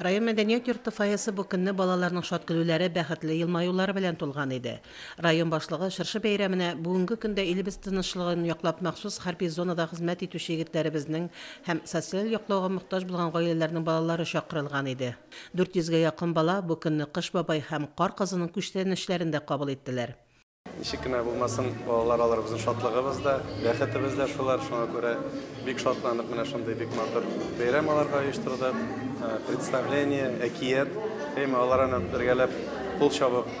Район мәдәният йорты фойесы бу көнне балаларның шат көлүләре, бәхетле елмаюлары белән тулган иде. Район башлыгы чыршы бәйрәменә бүгенге көндә илебез тынычлыгын яклап махсус хәрби зонада хезмәт итүче егетләребезнең һәм социаль яклауга мохтаҗ булган гаиләләрнең балалары чакырылган иде. 400 гә якын бала бу көнне Кыш бабай һәм Кар кызының күчтәнәчләрен дә кабул иттеләр. Ничек кенә булмасын, балалар алар безнең шатлыгыбыз да, бәхетебез дә шулар. Шуңа күрә бик шатланып менә шундый бик матур бәйрәм аларга оештырдык. Э, представление, әкият, әйме алар аны бергәләп кул чабып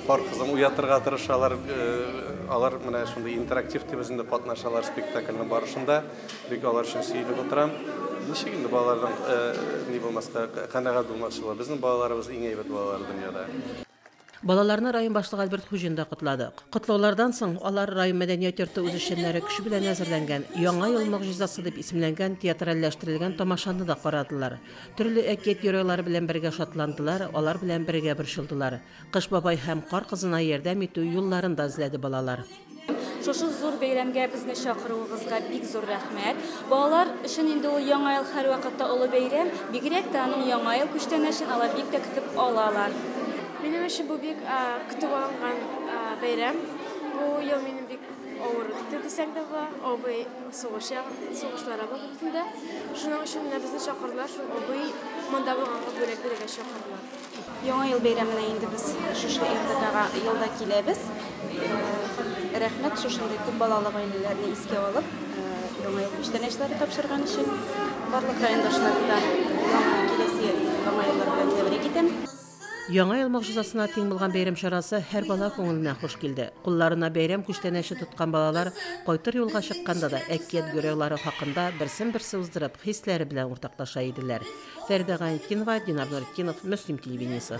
пар э, кызын уятырга тырышалар. Э, алар менә шундый интерактив дип үзендә катнашалар спектакльнең барышында. Бик алар өчен сөйләп утырам. Ничек инде балаларның ни булмаска канәгать булмакчылар. Безнең балаларыбыз иң әйбәт балалар дөньяда. Балаларны район башлыгы Альберт Хуҗин да котлады. Котлаулардан соң алар район мәдәният йорты үзешчәннәре көче белән әзерләнгән Яңа ел могҗизасы дип исемләнгән театральләштерелгән тамашаны да карадылар. Төрле әкият геройлары белән бергә шатландылар, алар белән бергә борчылдылар. Кыш бабай һәм Кар кызына ярдәм итү юлларын да эзләде балалар. Шушы зур бәйрәмгә безне чакыруыгызга бик зур рәхмәт. Балалар өчен инде ул Яңа ел һәрвакытта олы бәйрәм, бигрәк тә аның Яңа ел күчтәнәчен алар бик тә көтеп алалар. Минем өчен бу бик көтеп алынган бәйрәм. Бу ел минем бик авыр үтте дисәк тә була. Абый сугыш ягын, сугышларга барып килде. Шуның өчен менә безне чакырдылар, шул абый монда булганга бүләк бирергә чакырдылар. Яңа ел бәйрәменә инде без шушы РДКга елда киләбез. Рәхмәт шушындый күп балалы гаиләләрне искә алып, яңа ел күчтәнәчләре тапшырган өчен. Барлык райондашларны да киләсе яңа еллар белән тәбрик итәм. Яңа ел могҗизасына тиң булган бәйрәм чарасы һәр бала күңеленә хуш килде. Кулларына бәйрәм күчтәнәче тоткан балалар кайтыр юлга чыкканда да әкият геройлары хакында берсен-берсе уздырып, хисләре белән уртаклаша иделәр. Фәридә Гаинтдинова, Динар Нуретдинов, Мөслим телевидениесе.